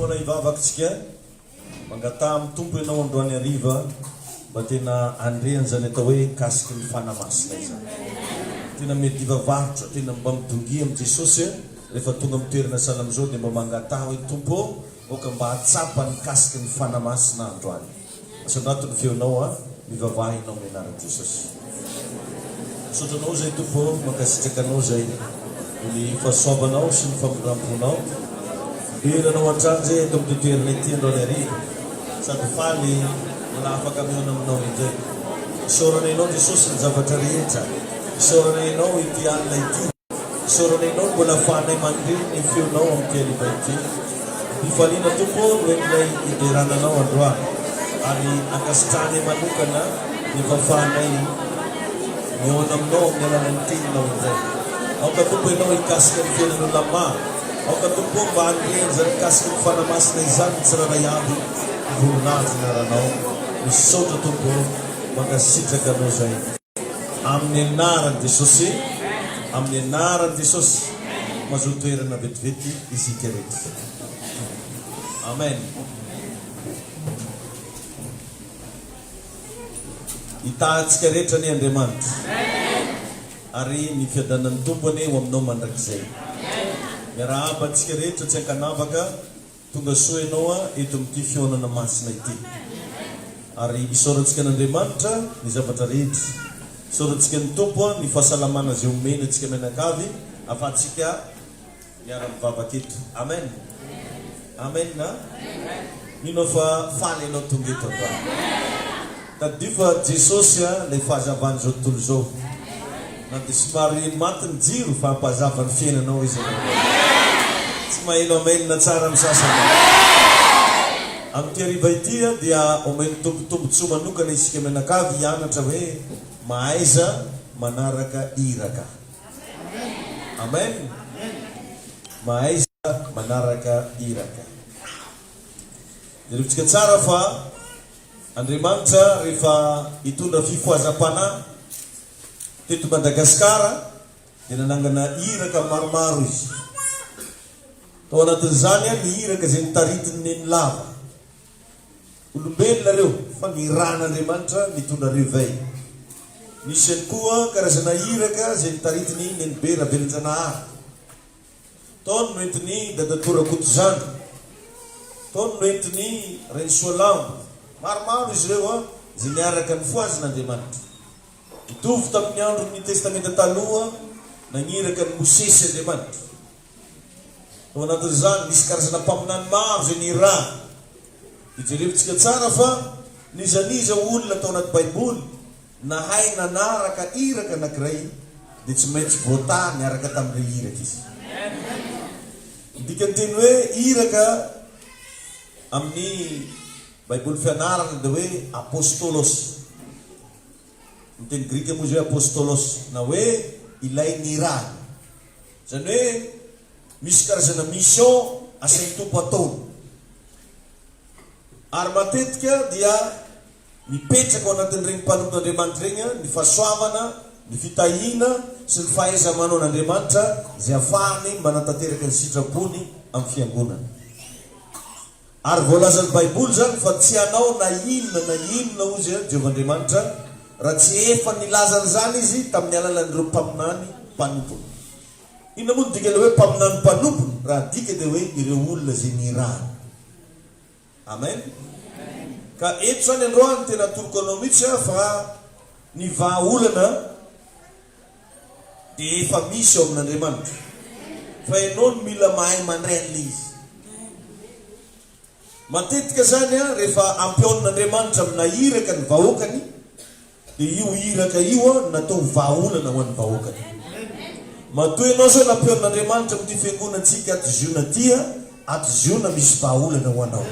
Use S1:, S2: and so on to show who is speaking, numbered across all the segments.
S1: Manomboana hivavaka tsika, mangataha amin'ny Tompo ianao androany hariva mba tena handre an'izany atao hoe kasiky ny Fanahy Masina izany. Tena mety hivavahotra, tena mba midongia amin'i Jesosy a, rehefa tonga amin'ny toerana sahala amin'izao dia mba mangataha hoe Tompo ô, aoka mba hahatsapa ny kasiky ny Fanahy Masina aho androany. Asanato ny feonao a mivavaha enao ny anara jesosy misaotra anao zay tompo ô mankasitraka anao zay ny fasoavanao sy ny famindrampnao dera anao antrany zay eto amty toerana ity androany ariva sady faly mbola afaka mihaona aminao indray isaorana enao jesosy ny zavatra rehetra isaorana enao ity alina ity Soronenao mbola fahanay mandre ny feonao amin'ny keriba ity. Ampifaliana Tompo ao no entinay hiderana Anao androany ary ankasitrahanay manokana ny fahafahanay mihaona aminao amin'ny alalan'ny Teninao indray. Aoka Tompo Ianao hikasika ny fiainan'olona maro. Aoka Tompo o mba hanome an'izany mikasika ny Fanahy Masina izany ny tsirairay avy ny voninahitra anaranao. Misaotra Tompo o. Mankasitraka Anao izay. Amin'ny anaran'i Jesosy, amin'ny anaran'i Jesosy, mazoa toerana vetivety isika rehetra. Amen. Hitahantsika rehetra anie Andriamanitra. Ary ny fiadanan'ny Tompo anie ho aminao mandrakizay. Miarahaba antsika rehetra tsy ankanavaka. Tonga soa ianao a eto amin'ity fihaonana masina ity. Ary isaorantsika an'Andriamanitra ny zavatra rehetra. Isaorantsika ny Tompo a ny fahasalamana izay omeny antsika mianakavy afahantsika miara mivavaka eto. Amen. Amen a. Mino aho fa faly ianao tonga eto androany. Tadidio fa Jesosy lay fahazavany zao tontolo izao. Na dia somary maty ny jiro fa mpahazava ny fiainanao izy anao. Tsy maheno amen tsara ny sasany. Amin'ity hariva ity dia omen'ny Tompo tombotsoa manokana isika mianakavy hianatra hoe mahaiza manaraka iraka. Amen! Mahaiza manaraka iraka. Jerevitsika tsara fa. Andriamanitra rehefa nitondra fifohazam-panahy teto Madagasikara dia nanangana iraka maromaro Izy. Tao anatin'izany an ny iraka izay notaritin'i Nenilava. Olombelona ireo fa nirahan'Andriamanitra nitondra réveil. Nisy ihany koa karazana iraka izay notaritin'i Nenibe Ravelinjanahary. Taony no entin'i Dadatoa Rakotozana. Taony no entin'i Renisoalambo. Maromaro izy ireo izay niaraka nifohazina Andriamanitra. Mitovy tamin'ny andron'ny Testamenta Taloha, nagniraka an'i Mosesy Andriamanitra. Tao anatin'izany, nisy karazana mpaminany maro izay nirary. Dia jerevintsika tsara fa n'iza n'iza olona tao anaty Baiboly Nahay nanaraka iraka anakiray dia tsy maintsy voataha niaraka tamin'irey iraka izy. Ny dikan'ny teny hoe iraka amin'ny Baiboly Fianarana dia hoe apostolos. Ny teny grika moa izy hoe apostolos na hoe ilay nirahana. Izany hoe misy karazana mission asain'ny Tompo ataony. Ary matetika dia Mipetraka ao anatin'ireny mpanonon'Andriamanitra ireny ny fahasoavana, ny fitahiana sy ny fahaiza-manaon'Andriamanitra izay afahany manatanteraka ny sitrapony amin'ny fiangonana. Ary voalazan'ny Baiboly izany fa tsy hanao na inona na inona, hoy Izy, Jehovah Andriamanitra, raha tsy efa nilaza an'izany Izy tamin'ny alalan'ireo mpaminany mpanompony. Inona moa no dikan'ilay hoe mpaminany mpanompony? Raha adika dia hoe ireo olona izay nirahany. Amen! Ka eto izany androany tena atoroko anao mihitsy aho fa ny vahaolana dia efa misy ao amin'Andriamanitra. Fa ianao no mila mahay mandray an'ilay izy. Matetika izany an, rehefa ampihaonin'Andriamanitra aminà iraka ny vahoakany, Dia io iraka io an natao ho vahaolana ho an'ny vahoaka dia. Matoa ianao zao nampiharin'Andriamanitra amin'ity fiangonantsika ato Ziona ity an, ato Ziona misy vahaolana ho anao.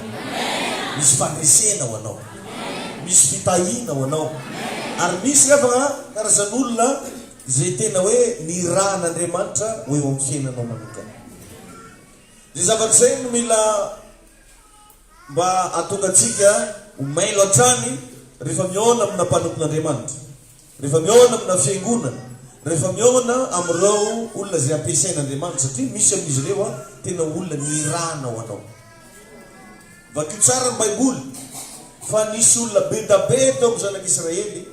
S1: Misy fandresena ho anao. Misy fitahiana ho anao. Ary misy nefa an karazan'olona izay tena hoe nirahan'Andriamanitra ho eo amin'ny fiainanao manokana. Izay zavatra izay no mila Mba hahatonga antsika ho mailo hatrany rehefa mihaona amina mpanompon'Andriamanitra, rehefa mihaona amina fiangonana, rehefa mihaona amin'ireo olona izay ampiasain'Andriamanitra, satria misy amin'izy ireo tena olona nirahana ho anao. Vakio tsara ny Baiboly fa nisy olona bedabe teo amin'ny zanak'Israely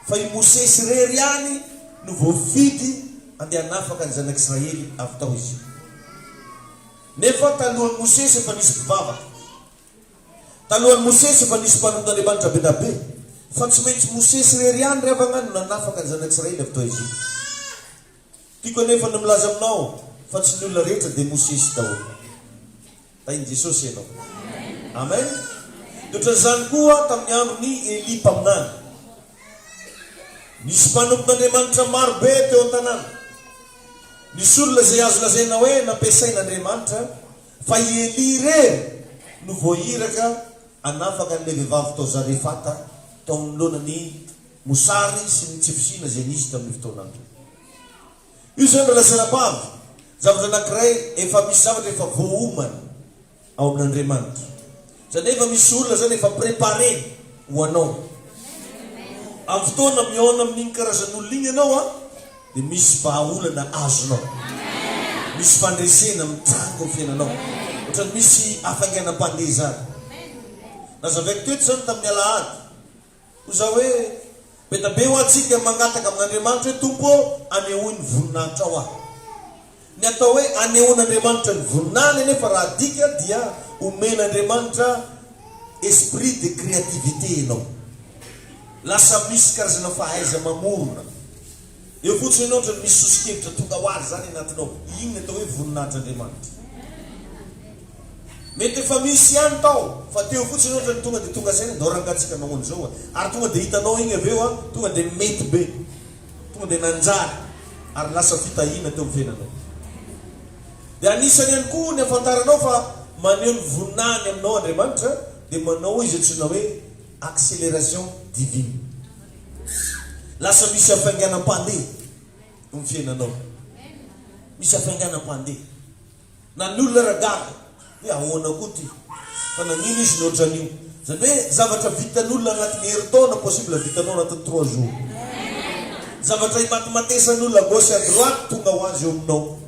S1: fa i Mosesy irery ihany no voafidy handeha hanafaka ny zanak'Israely avy tao Egypta. Nefa talohan'i Mosesy efa nisy mpivavaka. Talohan'i Mosesy efa nisy mpanondr'Andriamanitra be dia be. Fa tsy maintsy Mosesy irery ihany ry havagna no nanafaka ny zanak'Israely avy tao Egypta. Tiako anefa ny milaza aminao fa tsy ny olona rehetra dia Mosesy daholo. Tahin'i Jesosy ianao. Amen. Dia ohatran'izany koa tamin'ny andron'i Elia mpaminany. Nisy mpanompon'Andriamanitra maro be teo an-tanàna. Misy olona izay azo lazaina hoe nampiasain'Andriamanitra fa i Elia irery no voairaka hanafaka an'ilay vehivavy tao Zarefata tao anoloana ny mosary sy ny tsy fisiana izay nisy tamin'io fotoana io. Io izany raha lazaina fa avy zavatra anankiray efa misy zavatra efa voaomana. ao amin'Andriamanitra. Izany hoe efa misy olona izany efa préparé ho anao. Amin'ny fotoana mihaona amin'iny karazan'olona iny ianao an, dia misy vahaolana azonao. Misy fandresena mitranga eo fiainanao. Ohatran'ny misy hafainganam-pandeha izany. Nazavaiko teto izany tamin'ny alahady. Hoy izaho hoe, Be dia be ho antsika ny mangataka amin'Andriamanitra hoe, Tompo ô, anehoy ny voninahitrao ahy. Ny atao hoe anehoan'Andriamanitra ny voninahiny anefa raha adika dia omen'Andriamanitra esprit de créativité ianao. Lasa misy karazana fahaiza-mamorona. Eo fotsiny ianao otrany misy soso-kevitra tonga ho azy zany anatinao, iny ny atao hoe voninahitr'Andriamanitra. Mety efa misy ihany tao fa teo fotsiny ianao otrany tonga dia tonga saina ndao rangah tsika anao an'izao a! ary tonga dia hitanao iny avy eo a! tonga dia mety be, tonga dia nanjary ary lasa fitahiana teo amin'ny fiainanao. Dia anisany ihany koa ny afantaranao fa maneho ny voninahiny aminao Andriamanitra dia manao izay antsoina hoe Accélération divine lasa misy hafainganam-pandeha eo ny fiainanao, misy hafainganam-pandeha na ny olona ragaga hoe ahoana koa ty fa nagnino izy ny otran'io, zany hoe zavatra vitan'olona agnatin'ny herintaona possible vitanao agnatin'ny trois jours, zavatra imatimatesan'olona à gauche à droite tonga ho azy eo aminao.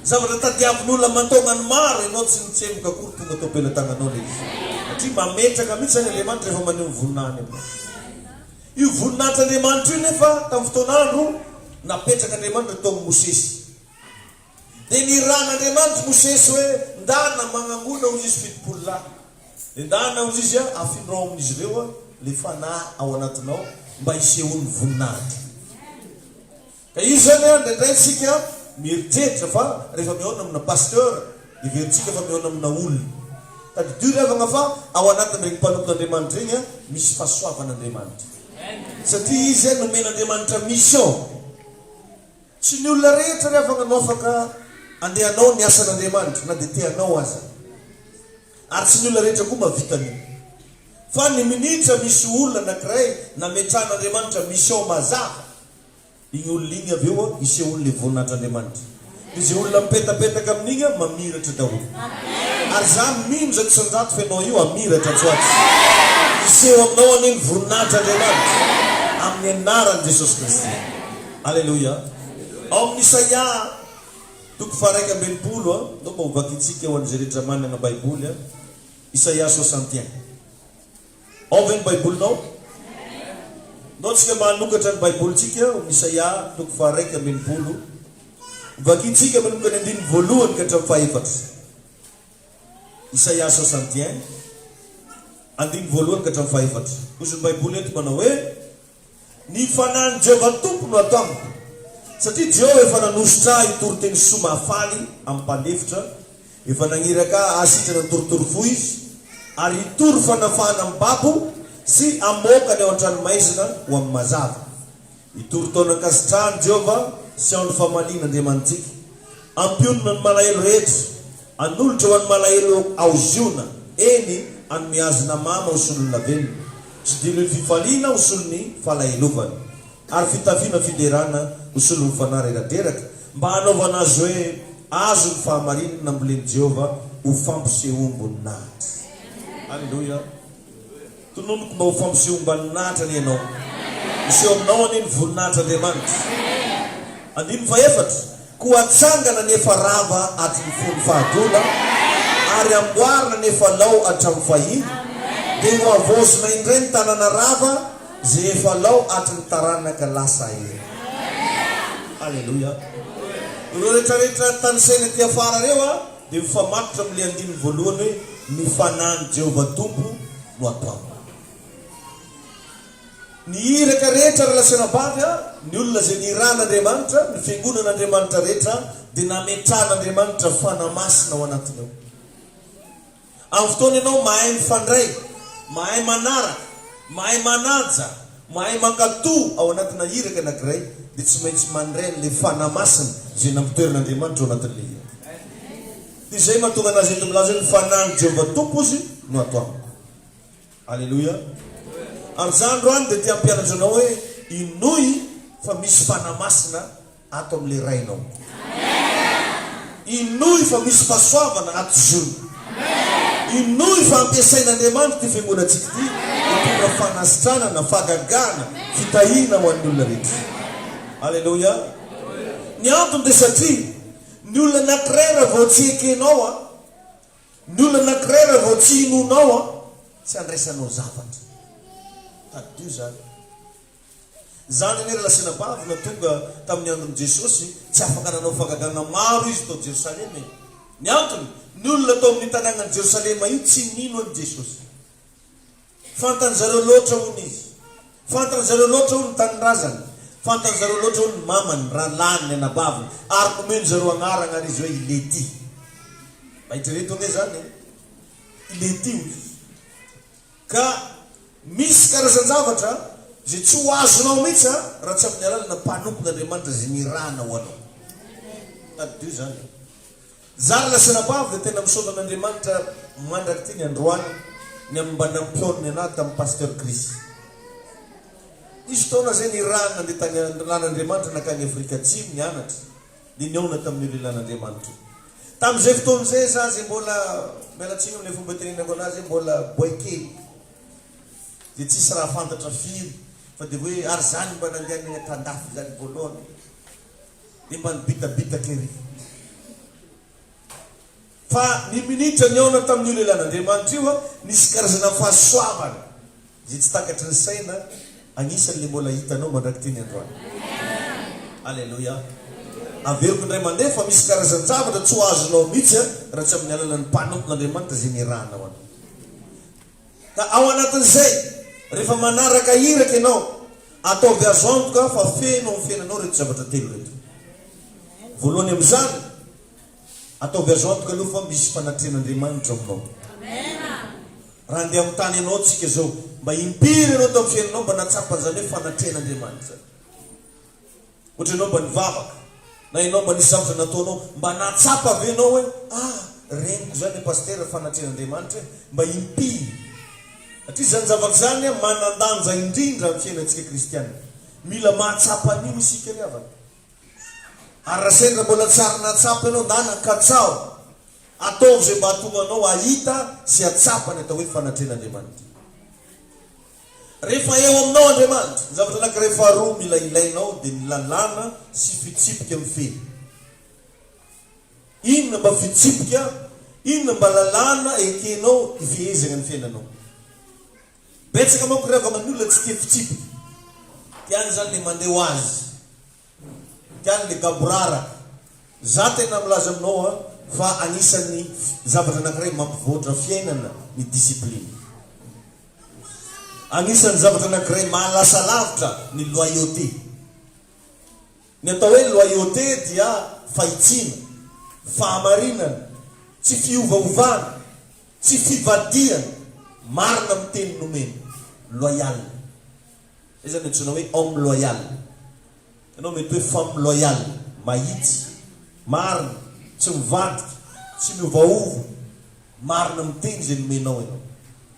S1: Zavatra tadiavin'olona aman-taona ny maro ianao tsy nitsemboka akory tonga tao am-pelatananao ilay izy satria mametraka mihitsy izany Andriamanitra rehefa maneho ny voninahiny aminao. Io voninahitr'Andriamanitra io nefa tamin'ny fotoan'andro napetrak'Andriamanitra tao amin'i Mosesy. Dia nirahan'Andriamanitra i Mosesy hoe ndana magnangona hozy izy fitopolo lahy. Dia ndana hozy izy a, afindro ao amin'izy ireo ilay fanahy ao anatinao mba hisehoan'ny voninahitro. Ka io zany an indraindray tsika mieritreritra fa rehefa mihaona amina pasteur heverintsika fa mihaona amina olona. Tadidio ry havana fa ao anatin'ireny mpanompon'Andriamanitra ireny an misy fahasoavan'Andriamanitra. Satria izy an nomen'Andriamanitra mission. Tsy ny olona rehetra ry havana no afaka andeha hanao ny asan'Andriamanitra na dia te hanao aza. Ary tsy ny olona rehetra koa mahavita an'io. Fa ny minitra misy olona anakiray nametrahan'Andriamanitra mission mazava. Iny olona iny avy eo hisehoan' le vonin' Andr' Andriamanitra. De ze olona mipetapetaka amin'igny an mamiratra daholo. Ary za mino izay tsy nirato f'enao io hamiratra atsy ho atsy. Hiseho aminao anie ny voninahitr' Andriamanitra amin'ny anaran'i Jesosy Kristy. Aleloia. Ao amin'ny Isaia toko faharaika amby enimpolo an, ndao mba hovakintsika ho an'izay rehetra manana Baiboly an, Isaia soixante et un. Ao ve ny Baibolinao? Nao tsika manokatra ny Baibolintsika ao amin'ny Isaia toko faharaika amby enimpolo, vakintsika manomboka ny andininy voalohany ka hatramin'ny fahefatra. Isaia soixante et un, andininy voalohany ka hatramin'ny fahefatra. Ozy ny Baiboly eto manao hoe. Ny Fanahin'i Jehovah Tompo no ato amiko, satria Jehovah efa nanosotra ahy hitory teny soa mahafaly amin'ny mpanefitra, efa naniraka ahy hahasitrana ny torotoro fo izy, ary hitory fanafahana amin'ny babo sy hamoaka ny ao an-tranomaizina ho amin'ny mazava. Hitory taonan-kasitrahan'i Jehovah sy andro famaliana Andriamanitsika. Hampionona ny malahelo rehetra. Hanolotra ho an'ny malahelo ao Ziona, eny, hanome azy namana ho solonà velona, sy diloilo fifaliana ho solon'ny falahelovana, ary fitafiana fiderana ho solon'ny fanahy reradreraka, mba hanaovana azy hoe azo ny fahamarinana nambolen'i Jehovah ho fampisehoam-boninahitra. Aleloia! Tononiko mba ho fampisehoam-baninahitra anie ianao. Miseho aminao anie ny voninahitr'Andriamanitra. Andininy fahefatra. Koa hatsangana ny efa rava aty ny fony fahadoana, ary hamboarina ny efa lao hatramin'ny fahiny, dia ho havaozina indray ny tanàna rava izay efa lao aty ny taranaka lasa ela. Aleloia. Ireo rehetrarehetra tanisaina aty afara ireo a. dia mifamatotra amin'ilay andininy voalohany hoe ny fanahin'i Jehovah Tompo no ataony. Ny iraka rehetra ary lasa nambavy ary ny olona izay nirahan'Andriamanitra, ny fiangonan'Andriamanitra rehetra dia nametrahan'Andriamanitra fanahy masina ao anatiny ao. Amin'ny fotoana ianao mahay mifandray, mahay manaraka, mahay manaja, mahay mankatò ao anatina iraka anankiray, dia tsy maintsy mandray an'ilay Fanahy Masina izay nampitorina-Andriamanitra ao anatin'ilay iraka. Dia izay mahatonga an'azy eto milaza hoe ny Fanahin'i Jehovah Tompo Izy no ato amiko. Aleloia! Ary izaho androany dia te-hampianatra anao hoe hinoy fa misy Fanahy Masina ato amin'ilay Rainao. Inoy fa misy fahasoavana ato Ziona. Inoy fa ampiasain'Andriamanitra ity fiangonantsika ity hitondra fanasitranana, fahagagana, fitahiana ho an'ny olona rehetra. Aleloia. Ny antony dia satria ny olona anankiray raha vao tsy ekenao an, ny olona anankiray raha vao tsy inoanao an, tsy andraisanao zavatra. Tadidio izany. Izany anie raha sinabavina tonga tamin'ny andron'i Jesosy, tsy afaka nanao fahagagana maro izy tao Jerosalema e! Ny antony, ny olona tao amin'io tanànan'i Jerosalema io tsy nino an'i Jesosy. Fantan'ny zareo loatra hono izy. Fantan'ny zareo loatra hono ny tanindrazany. Fantan'ny zareo loatra hono ny mamany, rahalahiny, ny anabaviny. Ary nomeny zareo anarana ary izy hoe i Lety. Mba eritrereto anie izany e! I Lety hoy izy. Ka misy karazan-javatra izay tsy ho azonao mihitsy raha tsy amin'ny alalana mpanompon'Andriamanitra izay nirahana ho anao. Tadidio izany e. Zary lasanabavy dia tena misaotra an'Andriamanitra mandrak'ity ny androany ny amin'ny mba nampihaonony anah tamin'i Pasteur Chris. Nisy fotoana izay nirahany nandeha tany an-dRan'Andriamanitra nankany Afrika Atsimo nianatra. dia nihaona tamin'io lehilahin'Andriamanitra. Tamin'izay fotoana izay izaho izay mbola, miala tsiny amin'ilay fomba itenenako an'azy, mbola boay kely, dia tsisy raha fantatra firy, fa dia hoe ary izaho no mba nandehanay tan-dafy izany voalohany, dia mba nibitabitaka ery. Fa ny minitra nihaona tamin'io lehilahin'Andriamanitra io, nisy karazana fahasoavana izay tsy takatry ny saina, anisan'ilay mbola hitanao mandrak'ity ny androany. Aleloia! Averiko indray mandeha fa misy karazan-javatra tsy ho azonao mihitsy raha tsy amin'ny alalan'ny mpanompon'Andriamanitra izay nirahana ho anao. Ka ao anatin'izay, rehefa manaraka iraka ianao, ataovy azo antoka fa feno amin'ny fiainanao ireto zavatra telo ireto. Voalohany amin'izany, Ataovy azo antoka aloha fa misy fanatrehan'Andriamanitra ao aminao. Raha handeha amin'ny tany ianao tsika zao, mba impiry ianao tao amin'ny fiainanao mba nahatsapa an'izany hoe fanatrehan'Andriamanitra izany? Ohatra ianao mba nivavaka, na ianao mba nisy zavatra nataonao, mba nahatsapa ve ianao hoe ah, reniko izany Pasitera fanatrehan'Andriamanitra e? Mba impiry? Satria izany zavatra izany manan-danja indrindra amin'ny fiainantsika kristiana. Mila mahatsapa an'io isika ry havana. Ary raha sendra mbola tsy ary nahatsapa ianao ndana, katsaho! Ataovy izay mba hahatonga anao hahita sy hahatsapa ny atao hoe fanatrehan'Andriamanitra. Rehefa eo aminao Andriamanitra, ny zavatra anankiray faharoa mila ilainao dia ny lalàna sy fitsipika mifehy. Inona mba fitsipika, inona mba lalàna ekenao hifehezagna ny fiainanao? Betsaka manko ry havana ny olona tsy tia fitsipika. Tiany izany le mandeha ho azy. Tiany le gaboraraka. Za tena milaza aminao an, fa anisan'ny zavatra anankiray mampivoatra fiainana ny discipline. Anisan'ny zavatra anankiray mahalasa lavitra ny loyauté. Ny atao hoe loyauté dia fahitsiana, fahamarinana, tsy fiovaovana, tsy fivadihana, marina amin'ny teny nomena, loyal. Izay izany no antsoina hoe homme loyal. Ianao mety hoe femme loyal, mahitsy, marina, tsy mivadika, tsy miovaova, marina amin'ny teny izay nomenao ianao.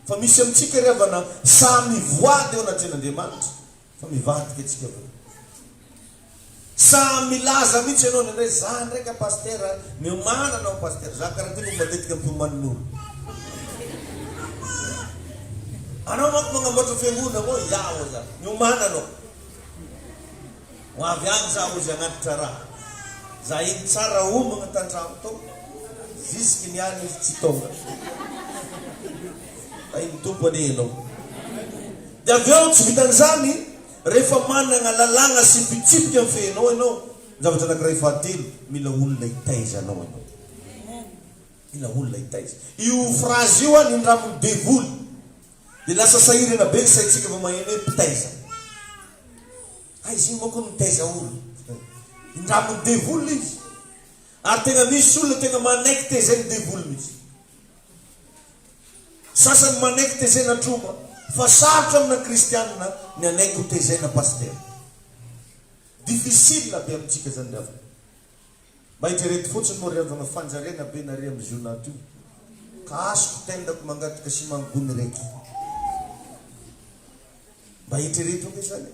S1: Fa misy amintsika ry havana samy voady eo anatrehan'Andriamanitra, Fa mivadika tsika vo. Sa milaza mitsy enao ny ndray za ndraika pasitera miomana anao pasitera za kara ty no matetika mpiomannolo anao manko magnamboatra fiangona mo ya o za miomana anao ho avy any za ozy agnatitra raha za iny tsara omagna tandramo to zisiky ny any izy tsy tonga fa iny tompo anie enao Dia avy eo, tsy vitan'izany, rehefa manana lalàna sy fitsipika mifehy anao ianao, ny zavatra anankiray fahatelo, mila olona hitaiza anao ianao. Mila olona hitaiza. Io frazy io anindramin'ny devoly, dia lasa sahirana be ny saintsika vao maheno hoe mpitaiza. Aiza iny manko ny mitaiza olona? Indramin'ny devoly izy. Ary tena misy olona tena manaiky tezain'ny devoly mihitsy. Sasany manaiky tezaina tromba fa sarotra amina kristianina ny hanaiky ho tezaina pasitera. Difficile be amintsika zany ry havana. Mba hijerety fotsiny moa ry havana fanjariana be nare am zio naty io ka asiko tendako mangataka sy mangony reto. Mba eritrereto anie zany e.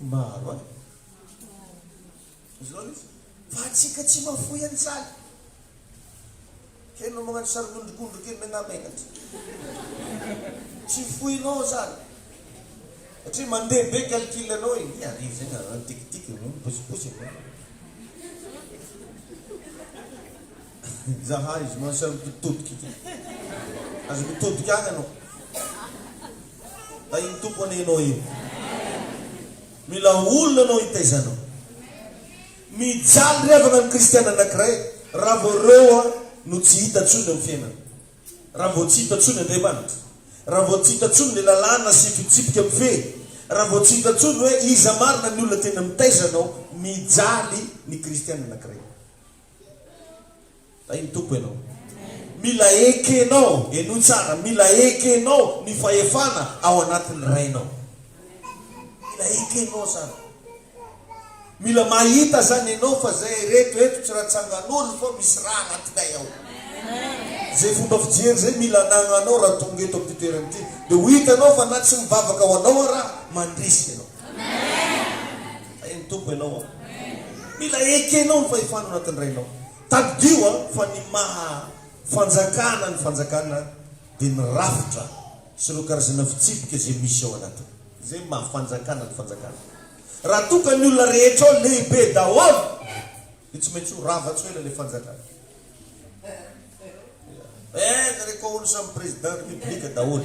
S1: Maro an! Izy ireo aloha fa antsika tsy mahafoy an'izany. Kay enao magnano sarin'ondrikondry kely megnamenatra. Tsy foinao zany. Satria mandeha be calcul anao e. Ny arivo zegny an, tic tic, posiposy e. Zaha izy mon cher mpitodika ity. Aza mitodika agny anao. Tahin'ny Tompo anie anao io. Mila olona anao hitaiza anao. Mijaly revagna ny kristiana anankiray raha vao reo no tsy hita tsony amin'ny fiainana. Raha vao tsy hita tsony Andriamanitra. Raha vao tsy hita tsony ny lalàna sy fitsipika mifehy. Raha vao tsy hita tsony hoe iza marina ny olona tena mitaiza anao. Mijaly ny kristiana anankiray. Hay ny Tompo ianao. Mila ekenao, henoy tsara, mila ekenao ny fahefana ao anatin'ny Rainao. Mila ekenao izany. Mila mahita izany ianao fa izay reto eto tsy raha tsangan'olo fa misy raha anatinay ao. Izay fomba fijery izay mila anagnanao raha tonga eto amin'ity toerana ity. Dia ho hitanao fa na tsy mivavaka ho anao aho raha, mandresy ianao. Hay ny Tompo ianao an! Mila ekenao ny fahefana ao anatin'ny Rainao. Tadidio an, fa ny maha fanjakana ny fanjakana dia ny rafitra sy ireo karazana fitsipika izay misy ao anatiny. Izay maha fanjakana ny fanjakana. Raha toa ka ny olona rehetra ao lehibe daholo, dia tsy maintsy ho rava tsy ho ela ilay fanjakana. Eh, zareko ao olo samy président république daholo.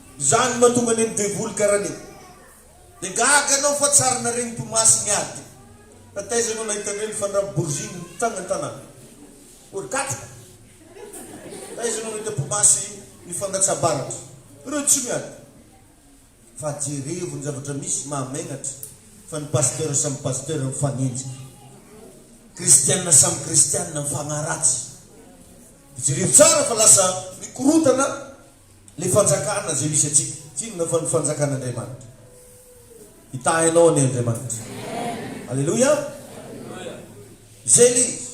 S1: Zany matonga anie ny devoly karany e! De gaga anao fa tsy ary naregny tomasy niady fa taiza anao nahita anreny fandraby borziny nitagny antanana ory katroka taiza anao nahita tomasy nifandatsabaratra reo tsy miady fa jerevo ny zavatra misy mahamenatra fa ny pasteur samy pasteur mifanenjika kristiana samy kristiana mifagnaratsy de jerevo tsara fa lasa mikorotana Ilay fanjakana izay misy antsika. Tsy inona fa ny fanjakan'Andriamanitra. Hitahy anao anie Andriamanitra. Aleloia. Izay ilay izy.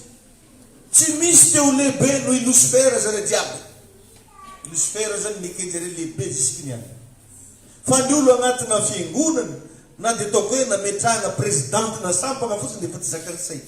S1: Tsy misy te ho lehibe noho i Losifera izany diable. I Losifera izany nekeny zareo lehibe zisiky ny any. Fa ny olo agnatina fiangonana na dia ataoko hoe nametrahana president na sampana fotsiny dia efa tsy zakan'ny sainy.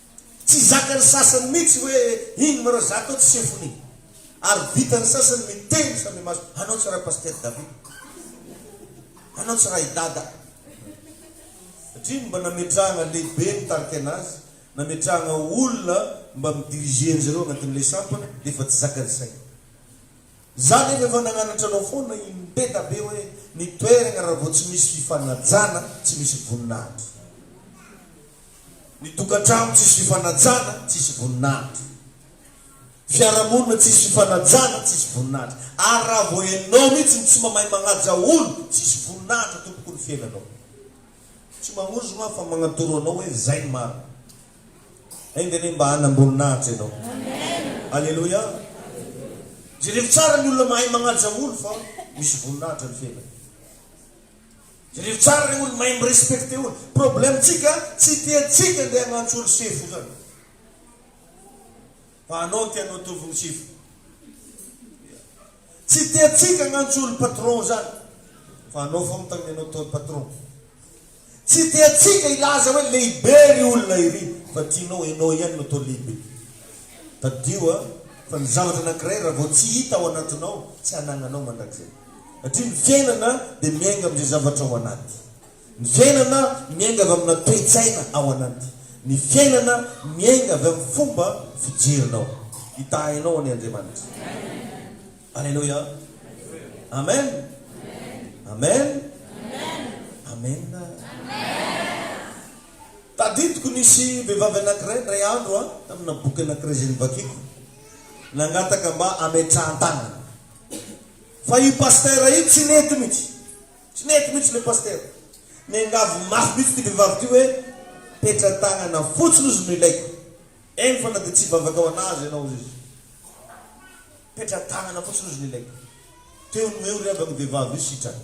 S1: Tsy zakan'ny sasany mihitsy hoe ino ma reo za to tsy sefony ary vitan'ny sasany miteny fa mimaso anao tsy raha pasteur David anao tsy raha i dada satria ny mba nametrahana lehibe ny tarika anazy nametrahana olona mba mi-diriger an'i zareo agnatin'ilay sampana d'efa tsy zakan'ny saina za nefa efa nagnanatra anao foana i Mpeda be hoe ny toeragna raha vao tsy misy fifanajana tsy misy voninahitra. Ny tokantrano tsisy fifanajana tsisy voninahitra. Fiarahamonina tsisy fifanajana tsisy voninahitra. Ary raha vao enao mihitsy ny tsy mamahy magnaja olo tsisy voninahitra tompoko ny fiainanao. Tsy mamonjy ma fa magnatoro anao hoe zay ny marina. Enga anie mba hanam-boninahitra enao. Aleloia. Jerevo tsara ny olona mahay magnaja olo fa misy voninahitra ny fiainany. Jereo tsara le olo mahay mi respecter olo. Problème tsika tsy tia tsika ndeha agnantso olo sefo zany. Fa anao tianao atovigny sefo. Tsy tia tsika agnantso olo patron zany. Fa anao fô mitagne anao atao patron. Tsy tia tsika ilaza hoe lehibe ry olona iry fa tianao enao ihany no atao lehibe. Tadidio a fa ny zavatra anakiray ra vao tsy hita ao anatinao tsy anagnanao mandrakizay. Satria ny fiainana dia miainga amin'izay zavatra ao anaty. Ny fiainana miainga avy amina toe-tsaina ao anaty. Ny fiainana miainga avy amin'ny fomba fijerinao. Hitahainao anie Andriamanitra. Aleloia. Amen. Amen. Amen. Tadidiko nisy vehivavy anankiray indray andro a, tamina boky anankiray izay novakiko, nangataka mba hametrahan-tanana. Fa io pasteur io tsy nety mitsy, tsy nety mitsy le pasteur, niangavy mafy mitsy ty vevavy ty hoe petra tagnana fotsiny ozy no ilaiko, eny fa na de tsy hivavaka ho anazy enao ozy izy, petra tagnana fotsiny ozy no ilaiko, teo no eo ry havany vevavy io sitrany.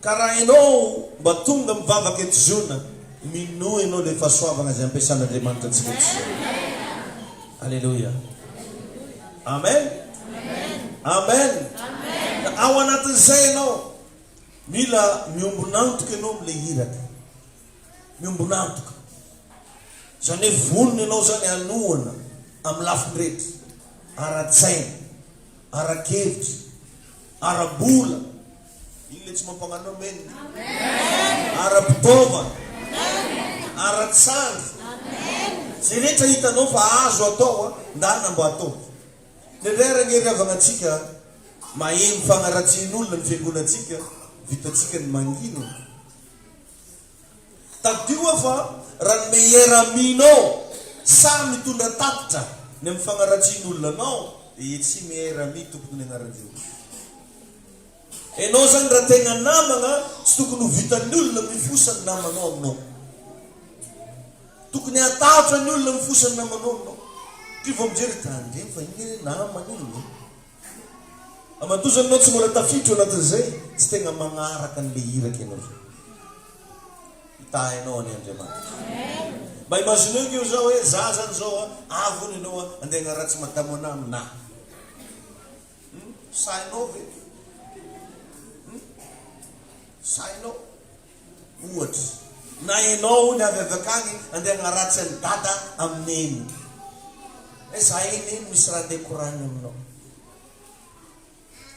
S1: Ka raha enao mba tonga mivavaka eto ziona minoa enao le fasoavagna zay ampiasan Andriamanitra antsika eto ziona Aleloia Amen Amen Ka ao anatin zay enao mila miombon'antoka enao am le hiraka miombon'antoka zany hoe vonona enao zany anohana am lafiny rehetra ara tsaina ara kevitra Ara-bola. Iny le tsy mampagnano amen. Ara-pitaovana. Ara-tsandry. Ze rehetra hitanao fa azo atao a, ndana mba atao. Dia ndray ara ngery havagna antsika maheno fagnaratsian'olona ny fiangonantsika, vitantsika ny mangina e. Tadidio aho fa raha ny meilleur ami nao sahy mitondra tatitra ny amin'ny fagnaratsian olona anao de e tsy meilleur ami tokony ny anaran'zay olona. Enao zany raha tegna namagna tsy tokony ho vitan'ny olona mifosa ny namanao aminao. Tokony hahatahotra ny olona mifosa ny namanao aminao. Ndry vao mijery de tandremo fa igny re namana igny e. Aman-dozany ianao tsy mbola tafiditra eo anatin'izay, tsy tegna magnaraka an'ilay iraka ianao zao. Hitahy anao anie Andriamanitra. Mba imagineo ange za hoe za zany zao an, avy hono ianao an, andeha hanaratsy madamo anah aminah. Hum, sahinao ve? Hum, sahinao? Ohatra, na ianao hono avy avy akany andeha hanaratsy an'i dada amin'ny neny. Hoe za iny iny misy raha te koragny aminao.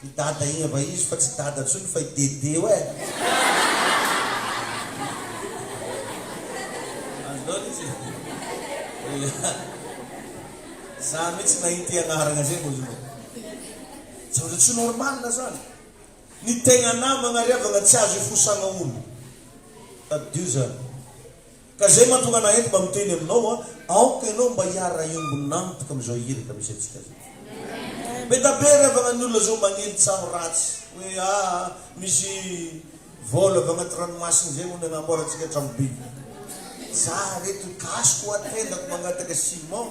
S1: I dada iny ava izy fa tsy dada intsony fa i dede hoe. Azonao ny tsy. Za mihitsy nahita i anaragna zay vao zao. Zavatra tsy normal zany. Ny tegna namagna ry havagna tsy azo ifosagna olo tadidio zany ka zay mahatonga anah eto mba miteny aminao a aoka ianao mba hiara-hiombo namtk amizao iraka misy antsika zao beda be ry havagna ny olona zao magnely tsaho ratsy hoe aa misy vol avy agnaty ranomasina zay hono agnamboarantsika tragno be zah reto gasy koa tendako mangataka ciment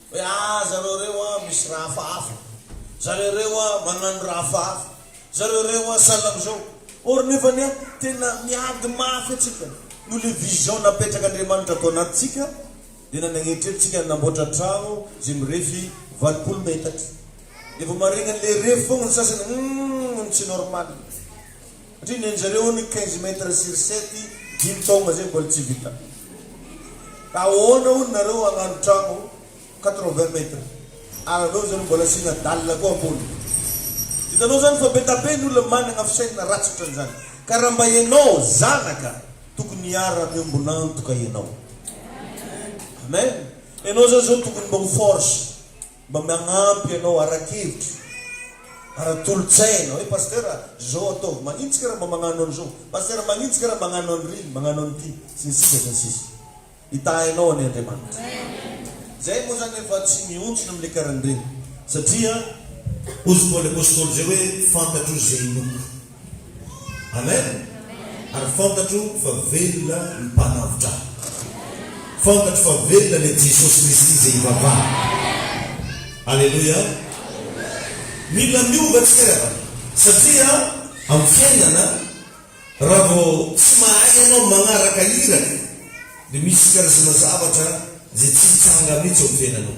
S1: Hoe ah zareo reo ah misy raha hafahafa, zareo reo ah magnano raha hafahafa, zareo reo ah sahala amzao. Or nefany ah tena miady mafy atsika noho le vision napetraka Andriamanitra ato anatitsika de na nagnetreto tsika namboatra tragno ze mirefy valopolo metatra de vo maregnany le refy fogna ny sasany humm tsy normal. Satria nenjereo ny quinze mètres sur sept dimy taogna zay mbola tsy vita. Ka ahoana hono nareo hagnano tragno quatre vingt mètres ary aleo zany mbola asiana dalle koa ambony. Hitanao zany fa be da be ny olona managna fisainana ratsy otran'izany. Ka raha mba enao zanaka tokony hiara miombon'antoka enao. Amen. Enao zany zao tokony mba ho force. Mba manampy anao ara-kevitra, ara-tolo-tsaina hoe Pasteur a, zao ataovy, manitsika ra mba magnano an'izao, Pasteur manitsika ra magnano an'ry, magnano an'ity, sy ny sisa sy ny sisa. Hitahy anao anie Andriamanitra. Zay moa zany efa tsy mihontsona amle karan'ireny satria hozy Paoly Apostoly zay hoe fantatro ze inoako. Amen! Ary fantatro fa velona ny mpanavotra ahy. Fantatro fa velona ilay Jesosy Kristy izay ivavahako. Aleloia! Mila miova tsika ry havana, satria amin'ny fiainana, raha vao tsy mahay ianao manaraka iraka, dia misy karazana zavatra izay tsy hitsanga mihitsy ao amin'ny fiainanao.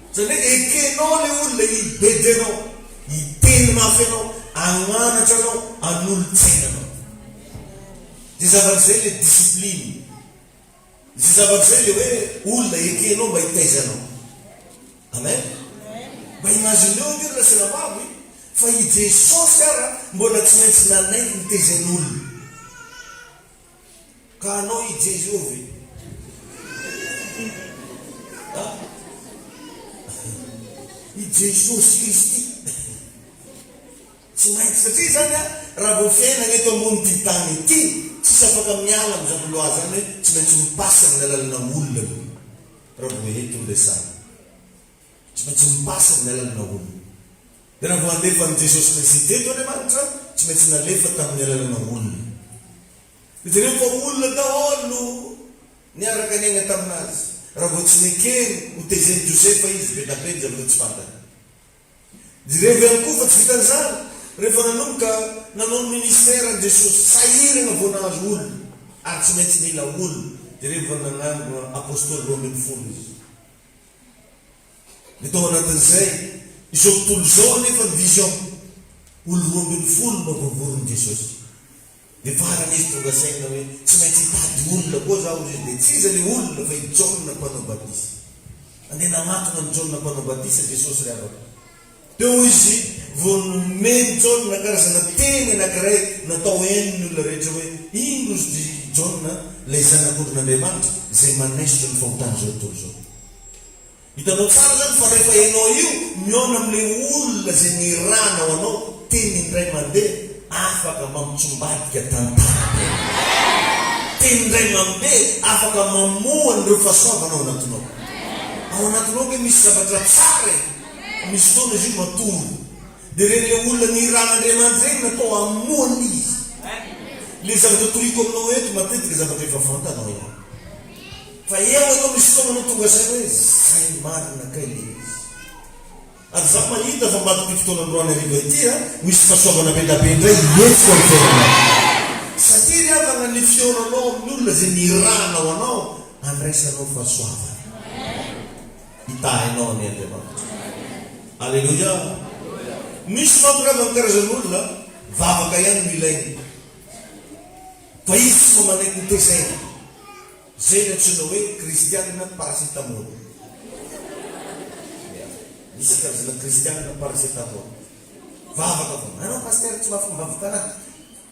S1: Zany hoe ekenao le olona hibedy anao, hiteny mafy anao, agnanatra anao, anolotsaina anao. Zay zavatra zay le discipline. Zay zavatra zay le hoe olona ekenao mba hitaiza anao. Amen. Mba imagineo ange ry lasanabavy fa i Jesosy ara mbola tsy maintsy nanaiky nitaiza ny olona. Ka anao i Jesoa ve? Ha? I Jesosy Kristy. Tsy maintsy satria izany an, raha vao fiainana eto ambonin'ity tany ity, tsisy afaka miala amin'izany loi izany hoe tsy maintsy mi-passe amin'ny alalanà olona aloha raha vao eto no resahina. Tsy maintsy mipasa ny alan'ny maha olona. Dia raha vao handefa an'i Jesosy Kristy teto Andriamanitra, tsy maintsy nalefa tamin'ny alan'ny maha olona. Dia jereo fa olona daholo no niaraka niaina tamin'Azy. Raha vao tsy nekeny ho tezen'i Josefa Izy, be tapenjy amin'ireo tsy fantany. Jereo ihany koa fa tsy vitan'izany, rehefa nanomboka nanao ny ministère-ny Jesosy, sahirana vao nahazo olona, ary tsy maintsy nila olona. Jereo fa nanangona Apostoly roa ambin'ny folo Izy. Ny tao anatin'izay, izao tontolo izao anefa ny vision, olo roa ambin'ny folo no voavoron'i Jesosy. Dia farany izy tonga saina hoe, tsy maintsy hitady olona koa zaho, hoy izy, dia tsy iza ilay olona fa i Jaona mpanao batisa. Andeha nanatona an'i Jaona mpanao batisa Jesosy ry havako. Teo hoy izy vao nomeny i Jaona karazana teny anankiray natao heno ny olona rehetra hoe, Iny rozy dry i Jaona, ilay Zanak'ondrin'Andriamanitra, izay manaisotra ny fahotana izao tontolo izao. Hitanao tsara izany fa rehefa ianao io mihaona amin'ilay olona izay nirahana ho anao, teny indray mandeha afaka mampitsombadika tantara be. Teny indray mambe afaka mamoha an'ireo fahasoavana ao anatinao. Ao anatinao ange misy zavatra tsara e! Misy fotoana izy io matory dia reny ilay olona nirahan' Andriamanidreny natao hamonoana izy. Ilay zavatra toriko aminao eto matetika zavatra efa fantanao ihany. Fa eo eto misy fotoana no tonga saina hoe zay marina kay ilay izy. Ary za mahita fa ambadik'ity fotoana androany hariva ity a, ho hisy fahasoavana bedabe indray hietsika ny fiainanao. Satria ry havana ny fihaonanao amin'ny olona izay nirahanao anao handraisanao fahasoavana. hitahainao anie Andriamanitra. Aleloia! Misy manko raha amin'ny karazan'olona vavaka ihany no ilainy fa izy tsy mba manaiky ny tezaina. Izay no antsoina hoe kristianina paracetamol. Misy karazana kristianina paracetamol. Vavaka foana. Anao pasitera tsy mahafomba vavaka anahy.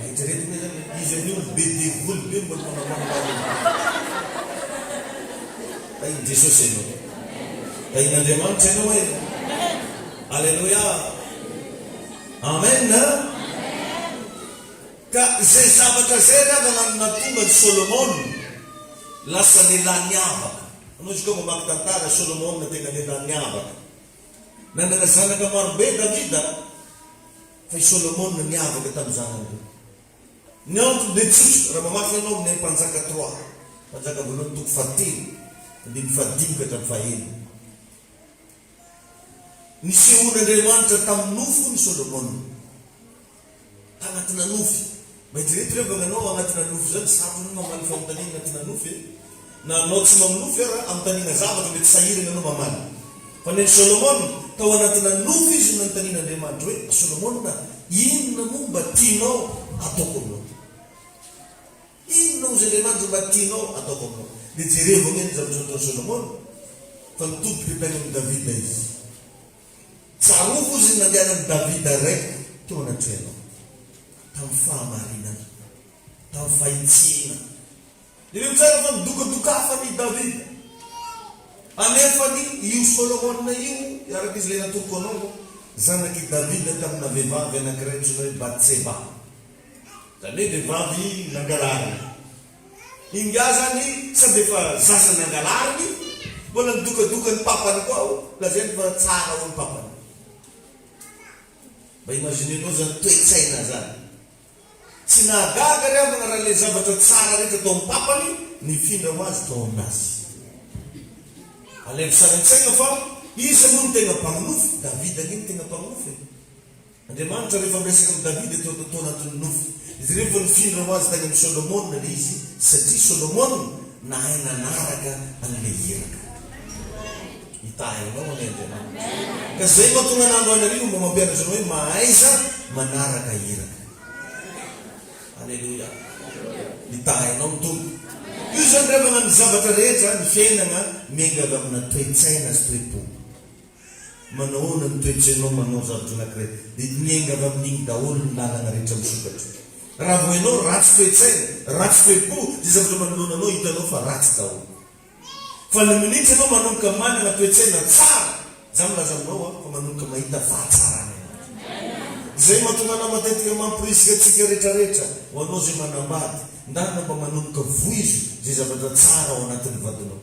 S1: Eritreretina izany hoe izy amin'io no be devoly be mbola manahoana anao eo. Tahin'i Jesosy ianao. Tahin'Andriamanitra ianao e. Aleloia. Amen an. Ka izay zavatra izay ry havana no nahatonga an'i Solomona lasa lehilahy niavaka. Anao izy koa mamaky tantara, Solomona tena lehilahy niavaka. Nanana zanaka marobe Davida, fa i Solomona niavaka tamin'ny zanany ireo. Ny antony dia tsotra, raha mamaky ianao amin'ny Mpanjaka trois, Mpanjaka voalohany toko fahatelo, andininy fahadimy ka hatramin'ny fahenina. Nisehoan'Andriamanitra tamin'ny nofony i Solomona. tanatina nofy. Maidrety re mba nanao agnatina nofy zany sarony mamaly famontaniana agnatina nofy e! Na anao tsy maminofy ara amontaniana zavatra mety sahiragna anao mamaly. Fa nen'i Solomona, tao agnatina nofy izy no nanontanian'Andriamanitra hoe, Ry Solomona, inona moa mba tianao ataoko aminao? Inona ozy Andriamanitra mba tianao ataoko aminao? Dia jerevo anie ny zavatra nataon'i Solomona, fa nitodika tany amin'i Davida izy. Tsarovy hozy ny nandehanan'i Davida iray teo anatrehanao, tamin'ny fahamarinana, tamin'ny fahitsiana. Jereo tsara fa nidokadokafan' i Davida. Anefany io Solomona io, araka izay natoroko anao, dia zanak' i Davida tamina vehivavy anankiray antsoina hoe Batseba, izany hoe vehivavy nangalariny. Ingahy izany sady efa zaza nangalariny, mbola nidokadoka ny papany koa ao, lazainy fa tsara ao ny papany. Mba imaginenao izany toe-tsaina izany. Tsy nahagaga ary havana raha ilay zavatra tsara rehetra tao amin'ny papany nifindra ho azy tao aminazy. Alaivo sary an-tsaina fa iza moa no tena mpaminofy? Davida ange no tena mpaminofy e! Andriamanitra rehefa miresaka amin'i Davida teo aloha tao anatin'ny nofy. Izy ireny vao nifindra ho azy tany amin'i Solomona ilay izy satria Solomona nahay nanaraka an'ilay iraka. Hitahy anao anie Andriamanitra. Ka izay mahatonga anà androany hariva mba mampianatra anao hoe mahaiza manaraka iraka. Aleloia. Hitahy anao ny Tompo. Toy izany ry havana ny zavatra rehetra, ny fiainana miainga avy amina toe-tsaina sy toe-po. Manahoana ny toetsainao manao zavatra anankiray dia miainga avy amin'iny daholo ny lalana rehetra misokatra. Raha vao ianao ratsy toetsaina, ratsy toe-po dia zavatra manoloana anao hitanao fa ratsy daholo. Fa ny minitra ianao manomboka manana toetsaina tsara, za milaza aminao aho fa manomboka mahita fahatsarana ianao. Izay mahatonga anao matetika mampirisika antsika retraretra ho anao izay manambady, ndarina mba manomboka voizo izay zavatra tsara ao anatin'ny vadinao.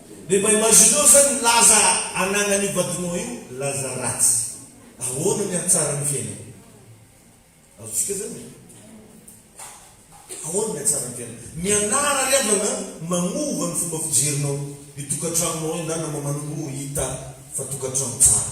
S1: De mba imagineo zany ny laza ananan'io vadinao io, laza ratsy. Ahoana ny hahatsara ny fiainany? Azontsika zany e. Ahoana ny hahatsara ny fiainany? Mianara ry havana magnova ny fomba fijerinao ny tokantranonao indray namamaninao ho hita fa tokantrano tsara.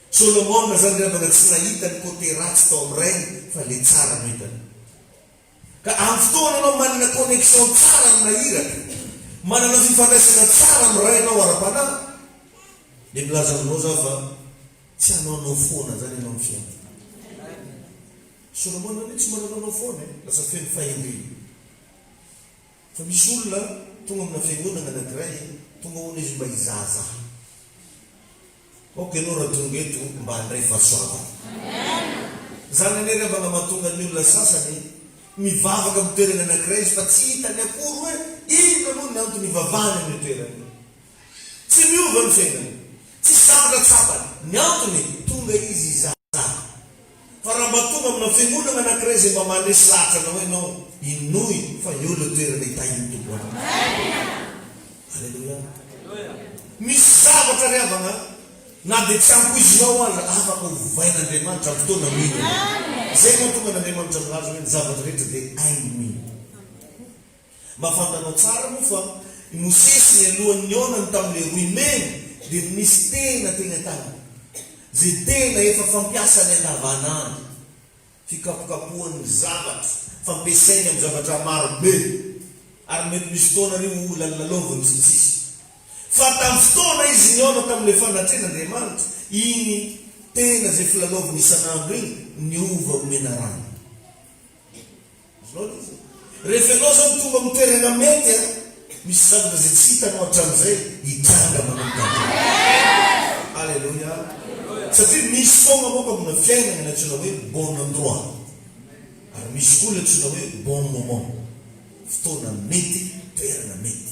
S1: Solomona zany ry havana tsy nahita ny côté ratsy tao am rainy fa le tsara no hitany. Ka am fotoana enao manana connexion tsara amina iraka, manana fifandraisana tsara am rainao ara panahy, de milaza aminao zaho fa tsy hanaonao foana zany enao am fiainana. Solomona anie tsy mba nanaonao foana e, lasa feno fahendrena. Fa misy olona tonga amina fiangonana anakiray, tonga hono izy mba hizahazaha. Ok anao raha tonga eto mba handray fahasoavana. Zany anie rehefa nga mahatonga ny olona sasany mivavaka am toerany anakiray izy fa tsy hitany akory hoe inona moa ny antony ivavahany am io toerana io. Tsy miova ny fiainany. Tsisy zavatra tsapany. Ny antony, tonga izy hizahazaka. Fa raha mba tonga amina fiangonana anakiray izay mba mandresy lahatra anao ianao, inoy fa eo ilay toerana hitahian'ny Tompo anao. Aleloia. Misy zavatra ry havana an, na dia tsy ampoizinao aza, afaka hovain'Andriamanitra amin'ny fotoana mino ianao. Izay no mahatonga an'Andriamanitra milaza hoe ny zavatra rehetra dia hainy mino. Mba fantanao tsara moa fa i Mosesy nialohan'ny nihaonany tamin'ilay rohy mena dia nisy tena teny an-tanany izay tena efa fampiasany andavanandro, fikapokapohany ny zavatra, fampiasainy amin'ny zavatra maro be, ary mety misy fotoana ary ho lalilalaoviny sy ny sisa. Fa tamin'ny fotoana izy nihaona tamin'ilay fanatrehan'Andriamanitra iny tena izay filalaoviny isan'andro iny niova ho menarana. Azonao andidy e! Rehefa ianao izany tonga amin'ny toerana mety an! Misy zavatra izay tsy hitanao hatramin'izay hitranga manomboka hatrany. Aleloia! Satria misy foana manko amina fiainana ny antsoina hoe bon endroit. Ary misy koa ny antsoina hoe bon moment. Fotoana mety, toerana mety.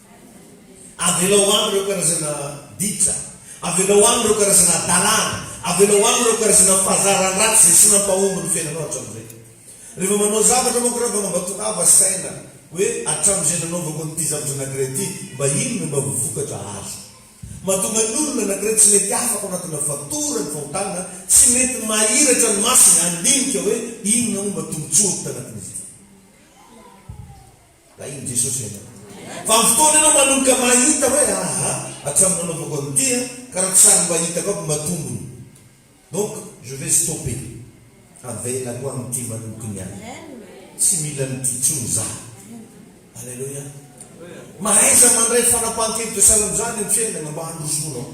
S1: Avelao any ireo karazana ditra, avelao any ireo karazana hadalana, avelao any ireo karazana fahazarana ratsy izay tsy nampahomby ny fiainanao hatramin'izay. Rehefa manao zavatra manko raha fa mambatonava saina hoe hatramin'izay nanaovako an'ity zavatra anankiray ity, mba inona no mba vokatra azo. Mahatonga ny olona anankiray tsy mety afaka ao anatina fatorany fahotana, tsy mety mahiratra ny masony handinika hoe inona no mba tombontsoako tanatin'izy ity. Rahin'i Jesosy ianao. Fa amin'ny fotoana ianao manomboka mahita hoe aha, hatramin'ny nanaovako an'ity an, ka raha tsy sary mba hitako aby mba tombony. Donc, je vais stopper. Avelako amin'ity manokony ahy. Tsy mila an'ity intsony za. Aleloia. Mahaiza mandray fanapahan-kevitra sahala amin'izany amin'ny fiainana mba handrosoanao.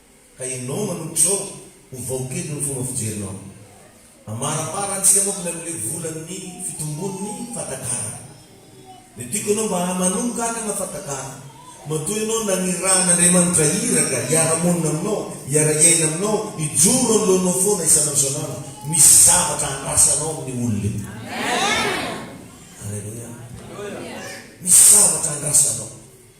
S1: Ka ianao manompo izao ho vahoka eto ny fomba fijerinao. Amaramara ny siramokony amin'ilay volan'ny fitombon'ny fatakarana. Dia tiako ianao mba manomboka hanana fatakarana. Matoa ianao nanirahan'Andriamanitra iraka hiara-monina aminao, hiara-hiaina aminao, hijoro anoloanao foana isan'andro isan'andro, misy zavatra handrasanao amin'io olona io. Aleloia. Misy zavatra handrasanao.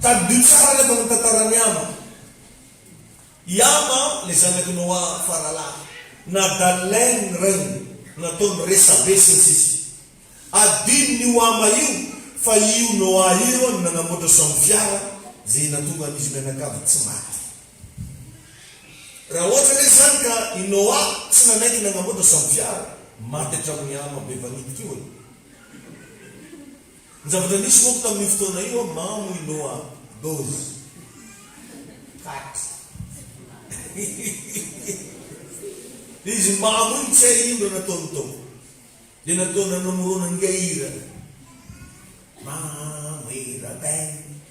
S1: Tadidio tsara anefa ny tantaran'i Hama. I Hama, ilay zanak'i Noa faralahy, nadàln'ny lainy ny rainy, nataony resabe, sy ny sisa Adinon'io Hama io fa io Noa io no nanamboatra soambifiara izay nahatonga an'izy mianakavy tsy maty. Raha ohatra ve izany ka i Noa tsy nanaiky nagnamboatra soambifiara, maty hatramin'ny Hama be vanitik'io e! Ny zavatra nisy manko tamin'io fotoana io an, mamo i Noa dozy taty izy mamo iny tsy hay ino raha nataony tao dia nataony nanamorona an'ingahy Hira, mamo Hira band.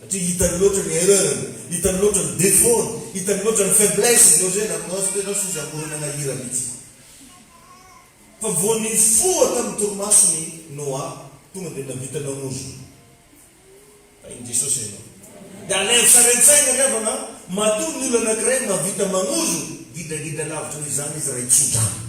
S1: satria hitany loatra ny erreur-ny, hitany loatra ny défaut-ny, hitany loatra ny faiblesse-ny zao zay na prof tena sous amboarina nahira mitsy fa vao nifoha tamin'ny torimason' i Noa tonga dia nahavita nanozona tahin'i Jesosy ianao dia aleho sarintsaina ry havana matoa ny olona anankiray mahavita manozona gidragidra lavitra noho izany izy raha hitsodrano.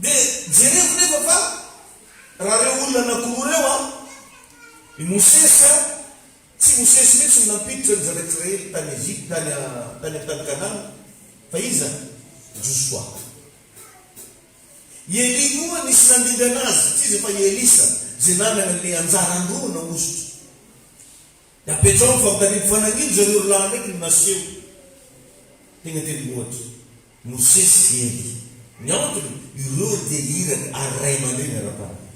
S1: Dia jereko nefa fa raha ireo olona anakiroa ireo an, i Mosesy an, tsy Mosesy mihitsy no nampiditra ny zanak'Israely tany Egypta, tany a, tany amin'ny tany Kanana, fa iza? Josoa. I Elia koa nisy nandingana azy, tsy iza fa i Elisa, izay nanana an'ilay anjara androana hosotra. Napetraho ny fampitaniako fa nagnino zareo rolahy ndraiky no naseho tegna tendrombohitra, Mosesy sy Ely. Ny antony, ireo dia iraka ary ray aman-dreny ara-panahy.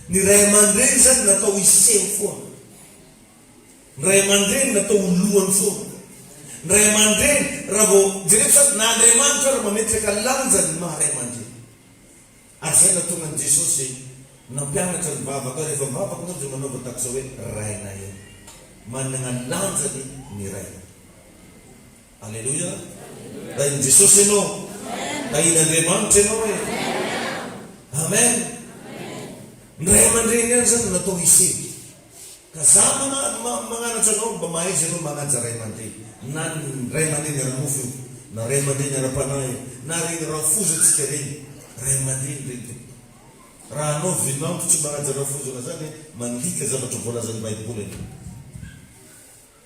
S1: Ny ray aman-dreny zany natao hiseho foana. Ny ray aman-dreny natao ho lohany foana. Ny ray aman-dreny raha vao, jereo fa na Andriamanitra ary mametraka lanja ny maha ray aman-dreny. Hajaina tonga an'i Jesosy nampianatra ny vavaka, rehefa mivavaka ianao dia manaova tahaka izao hoe, Rainay ô. Manana lanjany ny Ray. Aleloia. Rain'i Jesosy ianao. Rain'Andriamanitra ianao e. Amen. Ny ray aman-dreny ihany izany no natao hisy hery. Ka za magnanatra anao mba mahaiza anao manaja ray aman-dreny, na ny ray aman-dreny ara-nofo io, na ray aman-dreny ara-panahy io, na reny rafoza tsika reny, ray aman-dreny reny tompoko. Raha anao vinanto tsy manaja rafozana zany mandika zavatra voalazan'ny baiboly anao.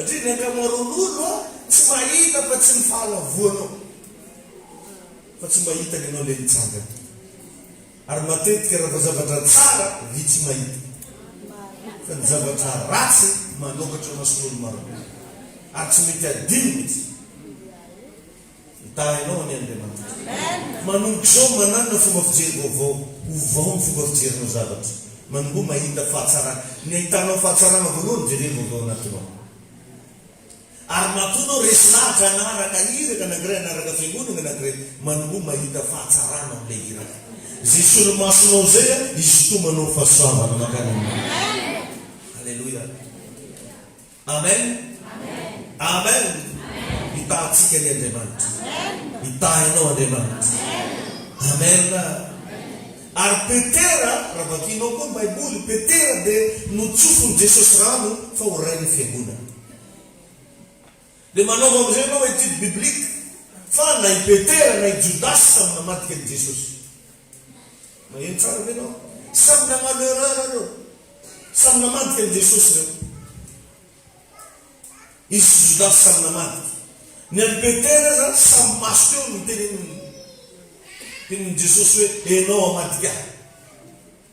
S1: Satria ny ankamaroan'olo tsy mahita fa tsy ny fahalavoanao fa tsy mba hitany anao le mitsangana ary matetika raha vao zavatra tsara vitsy mahita fa ny zavatra ratsy manokatra mason'olo marobe ary tsy mety adino mitsy. Mitaha anao anie Andriamanitra. Manomboka izao mananona fomba fijery vaovao. Ovao ny fomba fijerinao zavatra. Manomboha mahita fahatsarana. Ny ahitanao fahatsarana voalohany jereo avy ao anatinao. Ary matoa anao resy lahatra hanaraka iraka anankiray, hanaraka fiangonana anankiray, manomboha mahita fahatsarana ao amin'ilay iraka. Izay solomasonao izay an, hisintomanao ny fahasoavana mankany aminao. Aleloia. Amen Amen Mitaha antsika anie Andriamanitra Mitaha ianao Andriamanitra Amen Ary Petera raha vakianao koa ny baiboly Petera dia notsofiny Jesosy rano fa ho rain'ny fiangonana Dia manaova amin'izay ianao étude biblique fa na i Petera na i Jodasy samy namadika an'i Jesosy Maheno tsara ve enao? Samy nanano erreur reo. Samy namadika an'i Jesosy reo. Izy sy Jodasy samy namadika. Ny an'i Petera aza samy maso teo no tenenin'i Jesosy hoe enao amadika ahy.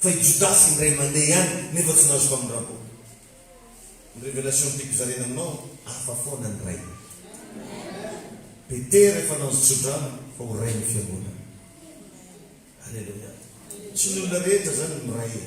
S1: Fa i Jodasy indray mandeha ihany nefa tsy nahazo famindrampo. Ny révélation tiako zarena aminao, hafa foana ny Ray. Petera efa nahazo tsodrano fa ho Rain'ny fiangonana. Alléluia. Tsy ny olona rehetra zany no Ray e.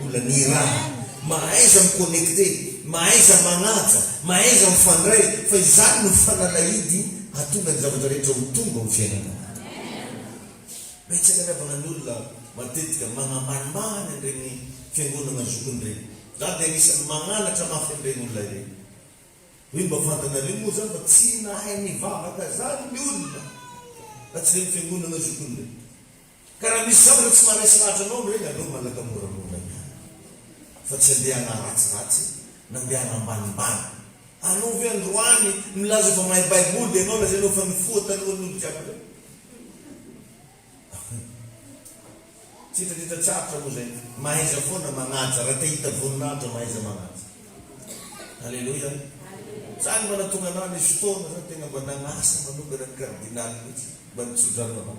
S1: Mbola ny raha, mahaiza mi-connecter, mahaiza manaja, mahaiza mifandray, fa izany no fanalahidy hahatonga ny zavatra rehetra ho tombo amin'ny fiainanao. Betsaka ny havahan'olona matetika manambanimbany an'ireny fiangonana zokiny ireny. Izaho dia anisan'ny mangalatra mafy an'ireny olona ireny. Hoe mba fantanareo moa izany fa tsy nahay nivavaka izany ny olona raha tsy ireny fiangonana zokiny ireny. Ka raha misy zavatra tsy maharesy lahatra anao ny hoe ngaleo manaka moramora ihany fa tsy andeha hanaratsiratsy na andeha hanambanimbany anao ve androany milaza fa mahay baiboly dia anao lazainao fa nifoha talohan'ny olo jiaby reo tsy hitadidy tsarotra moa zay mahaiza foana magnaja raha te hita voninahitra mahaiza magnaja aleloia zany mba natonga anah nisy fotoana zany tegna mba nagnasa manokana ny cardinal mitsy mba nitsodrano anao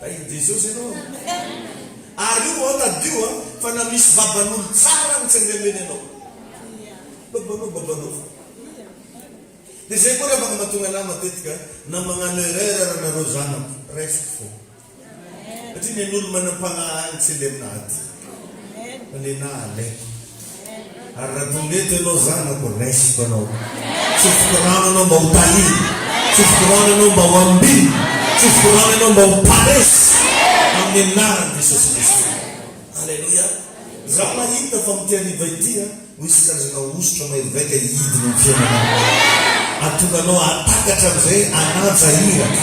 S1: Tahin'i Jesosy ianao an! Ary io an, tadidio an, fa na misy baban'olo tsara agny tsy andehandeha nenao. Babanao, babanao fô. Dia zay koa ravaka mahatonga anah matetika na magnano erreur ary nareo zanako, raisiko fô. Satria nen'olo manam-pagnahy agny tsy andeha aminah aty. Fa nenah alaiko. Ary raha toa mety ianao zanako, raisiko anao. Tsofiko rano ianao mba ho talina. Tsofiko rano ianao mba ho ambinina. Tsofiko rano ianao mba ho paresy. Amin'ny anaran'i Jesosy Kristy. Aleloia. Izaho mahita fa amin'ity hariva ity, ho hisy karazana hosotra maivaivaika hidina amin'ny fiainanao. Hahatonga anao hahatakatra an'izay hanaja iraka.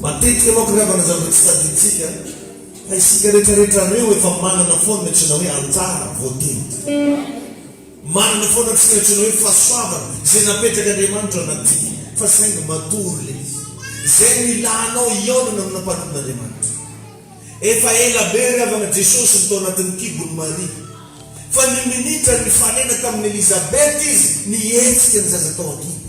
S1: Matetika manko ry havana zavatra tsy tadidintsika fa isika retraretra reo efa manana foana ny antsona hoe anjara voatendry. Manana foana tsika ny antsona hoe fahasoavana izay napetrak' Andriamanitra anatintsika fa saingy matory le izy izay no ilanao hihaonana amina mpanompon' Andriamanitra. Efa ela be ry havana Jesosy no tao anatin'ny kibon' Maria fa ny minitra nifanena tamin' Elizabeth izy nihetsika ny zaza tao an-kibo.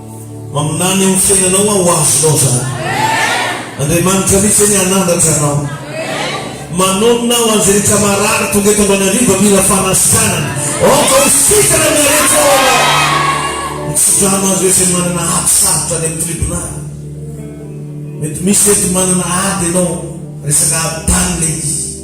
S1: Maminany amin'ny fiainanao aho ho azonao izany. Andriamanitra mihitsy anie hanandratra anao. Manonona aho an'izay rehetra marary tonga eto Antananarivo mila fanasitranana. Aoka ho sitrana amin'ilay rehetra ao Ianao. Mitsidrano azy ireo izay manana ady sarotra any amin'ny tribonaly. Mety misy eto manana ady ianao resaka ady tany ilay izy.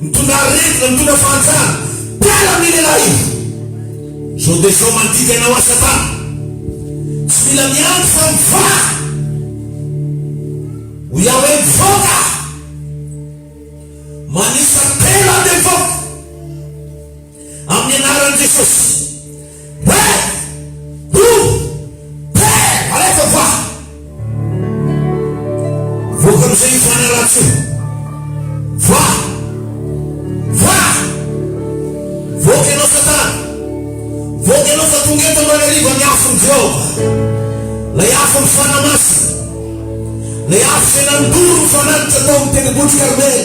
S1: Mitondra aretina, mitondra fahantrana. Mpiala amin'iny ialahy iny. Izao dia izao mandidy anao aho Satana. Tsy mila miandry fa mivaha. Hoy aho hoe mivoaka aho. Manisa telo aho dia mivoaka. Amin'ny anaran'i Jesosy. Père! Ouvre! Père! Alefa va! Voaka amin'izay io fanahy ratsy io. Va! Va! Voaka ianao Satana. Voaka ianao fa tonga eto androany hariva ny afon'i Jehovah. Ilay afon'ny fanahy masina. Ilay afo izay nandoro ny fanatitra tao amin'ny tendrombohitry Karmela.